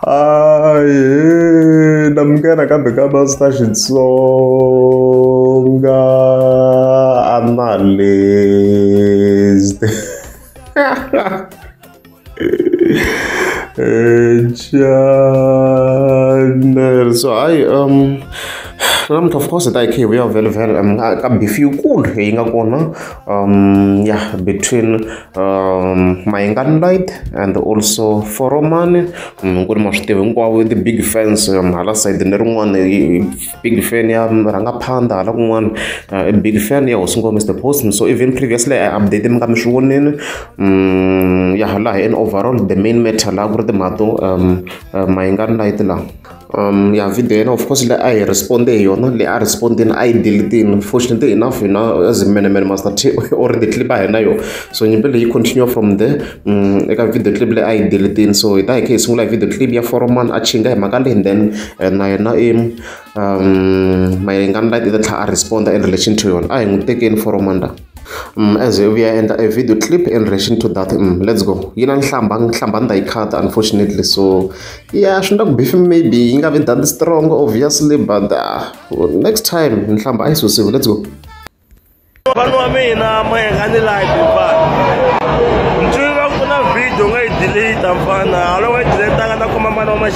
aye na muka nakambe ka masta xitsonga analyst channel so hayi um namuntlha of course hi ta hi kha hi vuya vhele vhele um ka beef yikulu leyi nga kona um ya between um Mayengani Light and also Foromani mm, ku ri ma swi tiva hinkwavo the big fans um, hala side ni rin'wana big fan ya rhangaphanda hala kun'wana uh, big fan ya hosingo mr post so even previously i update mi nga mi swi vonini mm, ya laha in overall the main matter laha ku ri timhato um uh, Mayengani Light laha ya video ya yena of course leyi a hi respond-e hi yona leyi a respond-ini a yi delete-ini fortunately enough hina as menemene Master T u ri clip-a hi na yona so nyimpi leyi yi continue from there eka video clip leyi a yi delete-ini so hi ta hi kha hi sungula hi video clip ya Foreman a hi mhaka leyi and then na yena i Mayengani light i ta tlhela a respond-a in relation to yona a hi n'wi tekeni Foreman la. As u ya endla e video clip in relation to that let's go yi na nhlamba nhlamba ni ta yi khata unfortunately so ya swi nga ku bifi maybe yi nga vi that strong obviously but next time nhlamba a yi susiwi let's go vanhu wa mina moya nga ni like hikuva ntswiri va ku na video u nga yi delete mfana haloko yi deletanga na kuma mani wa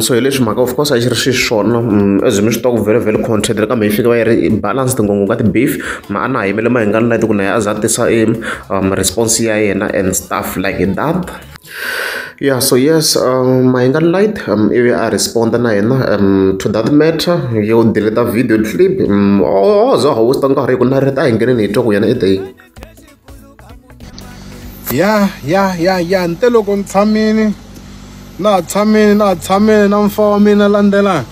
so hi leswi mhaka of course a xi ri xiswona as mi swi tiva ku very very content kambe yi fika va yi ri balance tingongo ka ti-beef ma a na ha yimele mahingani leti ku na a za a tisa e um, response ya yena and stuff like that yeah so yes um, mahingani light um, ivi a responda na yena um, to that matter yo deleta video clip um, ozo oh, oh, oh, hawusta nkarhi hi ku na rita a hi ngeneni hi twa ku yena i ya ya ya ya nte loko ni tshamini na ha tshamini na ha tshamini na mfa wa mina landzelani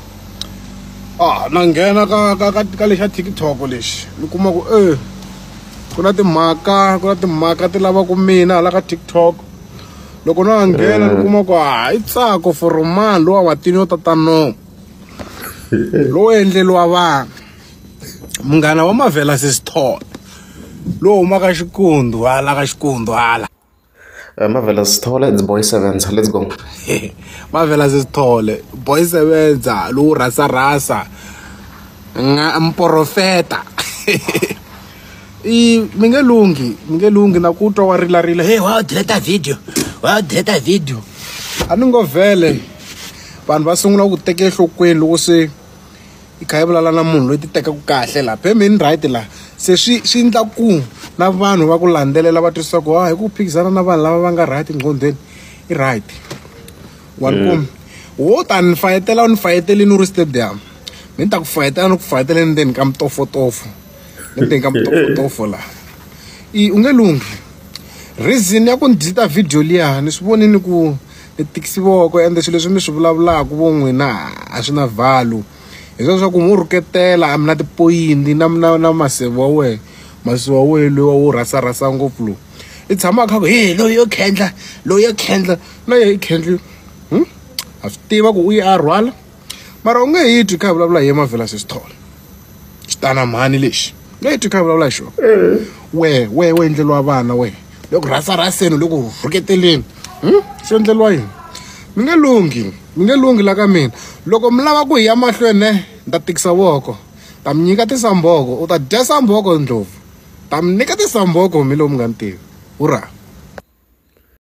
a na nghena ka ka ka ka lexi xa tiktok lexi ni kuma ku e ku na timhaka ku na timhaka ti lavaka mina hala ka tiktok loko no ha nghena ni kuma ku hayi tsako for mani lowa watini yo tatano lowu endleliwa vanhu munghana wa mavhela sisithole lowu humaka xikundu hala ka xikundu hala eh, mavhela sithole its boy sevenza let's go mavhela sisithole boy sevenza lowu rhasa rhasa nga mporofeta i mi nge lunghi mi nge lunghi na ku twa wa rilarila hey wa deleta video wa deleta video a ni ngo vhele vanhu va sungula ku teka enhlokweni loko se yi kha yi vulavula na munhu loyi ti tekaka kahle laha pemeni right laha se swi swi endla ku na vanhu va ku landzelela va twisisa ku hi ku phikizana na vanhu lava va nga right nqondweni i right wa ni mm. wo ta ni fayetela u ni fayetelini u ri stadium ni ta ku fayetela ni ku fayetela endzeni ka mutofotofo endzeni ka mutofotofo laha i u nge lunghi reason ya ku ni deleta video liya ni swi vonini ku i thekisi voko ende swilo leswi mi swi vulavulaka vo n'wina a swi na value hi swona swa ku n'wi rhuketela a mi na tipoyinti na na na maseve wa wena masi wa wena loyi wa wu rhasa rhasa ngopfu lowu i tshama a kha ku he loyi yo khendla loyi yo khendla na yena i khendli a swi tiva ku u ye a rhwala. mara u nge hi twi kha hi vulavula hi ye mavhela sesi thola xitana mhani lexi u nge hi twi kha hi vulavula hi xona wehe wehe we endleliwa vana wehe loko rhasa rhaseni loko rhuketeleni hmm? swi endleliwa yini mi nge lunghi mi nge lunghi la ka mina loko mi lava ku hi ya mahlweni ne ni ta tikisa voko ta mi nyika tisamboko u ta dya samboko ndlopfu ta mi nyika tisamboko mi lowu mi nga ni tivi hurra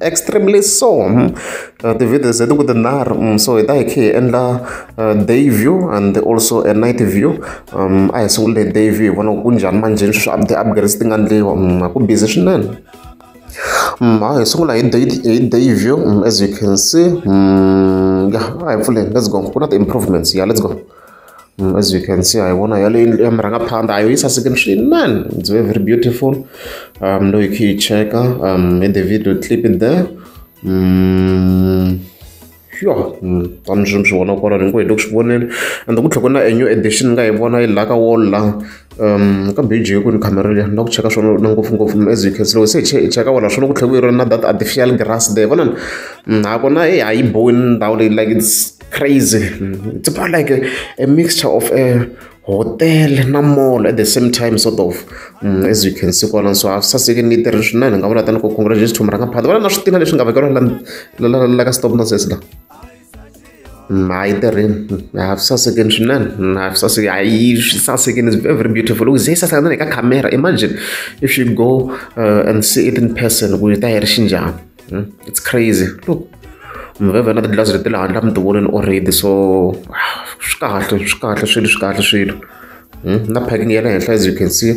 extremely so hmm. uh, ti-videos leti ku tinharhu hmm, so hi ta hi khe hi endla uh, day view and also a night view um a hi sungule day view hi vona ku njhani manjheni sweswi up ti-upgrades ti nga ndliwa hmm, ku busy swinene a hi sungula hi day hi day view as you can see ya a hi pfuleni let's go ku na ti-improvements ya let's go Mm, as you can see haivona yale indlu ya murhangaphandha a yo yi sasekini swinene it's very very beautiful um no yi khe yi cheka um in the video clip in there mm. yo mm, tani swi swi vona kwalano hinkwenu hi loko swi vonile and ku tlhoko na a new edition ni nga yi vona yi laka wall la um ka biji hi ku ni camera liya na ku cheka swona na ngopfungopfu as you can see loko se hi cheka wona swona ku tlhela ku yi ri na that artificial grass there vonani mm, ha kona e ha yi bowi ndhawu leyi like it's crazy it's more like a, a mixture of a hotel na mall at the same time sort of mm, as you can see kona so have saseke ni tirhi swinene ni nga vula tani ku congratulations to muranga phata vana na swi tina leswi nga vekeriwa la ka stop nonsense la hayi tirhini have sasekeni swinene have saseke hayi swi sasekeni is very very beautiful u ze saseka na le ka camera imagine if you go uh, and see it in person ku yi ta yi ri xinjhani Hmm? It's crazy. Look, mveve na tidlazi leti le handle a mi ti voneni already so swi kahle swi kahle swilo swi kahle swilo hmm? na packing ya le henhla as you can see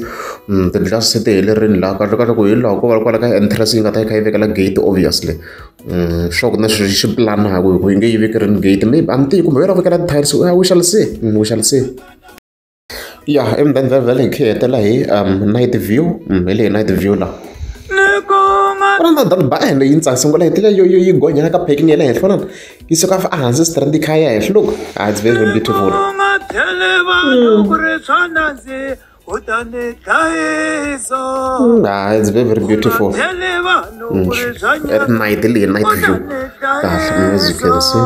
hmm, tidlazi se ti helerini laha kahle kahle ku hi laha ko va kwala ka entrance yi nga ta yi kha yi vekela gate obviously sure ku na xi xi planaka hi ku yi nge yi vekerini gate maybe a mi tiyi kumbe yi ra vekela tiles we shall see we shall see Ya eMuvhandzeni vhele hi kha hi hetela hi night view hi leyi night view laha ku na ndhawu ba ende yi ndzi sungula hi tile yo yo yi gonyela ka parking ya le henhla vonana yi suka a hansi strand yi kha ya henhla loko a it's very very beautiful ha it's very very beautiful at night leyi night view kahle music and see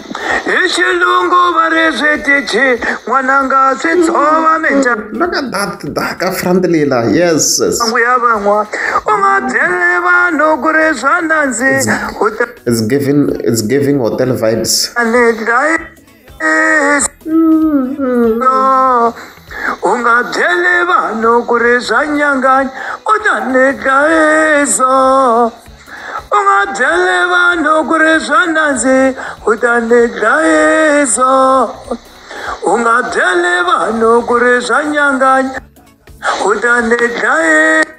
hi xilungu va ri swi tichi n'wananga swi tshova minja look at that daka front lila yes sangu ya van'wa u nga byele vanhu ku ri swa nandzi it's giving it's giving hotel vibes le dlayi no u nga byele vanhu ku ri swa nyanganya u ta ni dlayiso u nga byele vanhu ku ri swa nandzi u ta ni dlayiso u nga byele vanhu ku ri swa nyanganya u ta ni dlayiso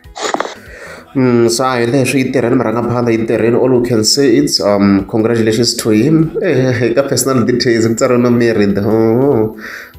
Mm, sa hi leswi yi tirheni murhangaphandla yi tirheni all we can say it's um congratulations to him eh, ka personal details ku tsariwe no married oh.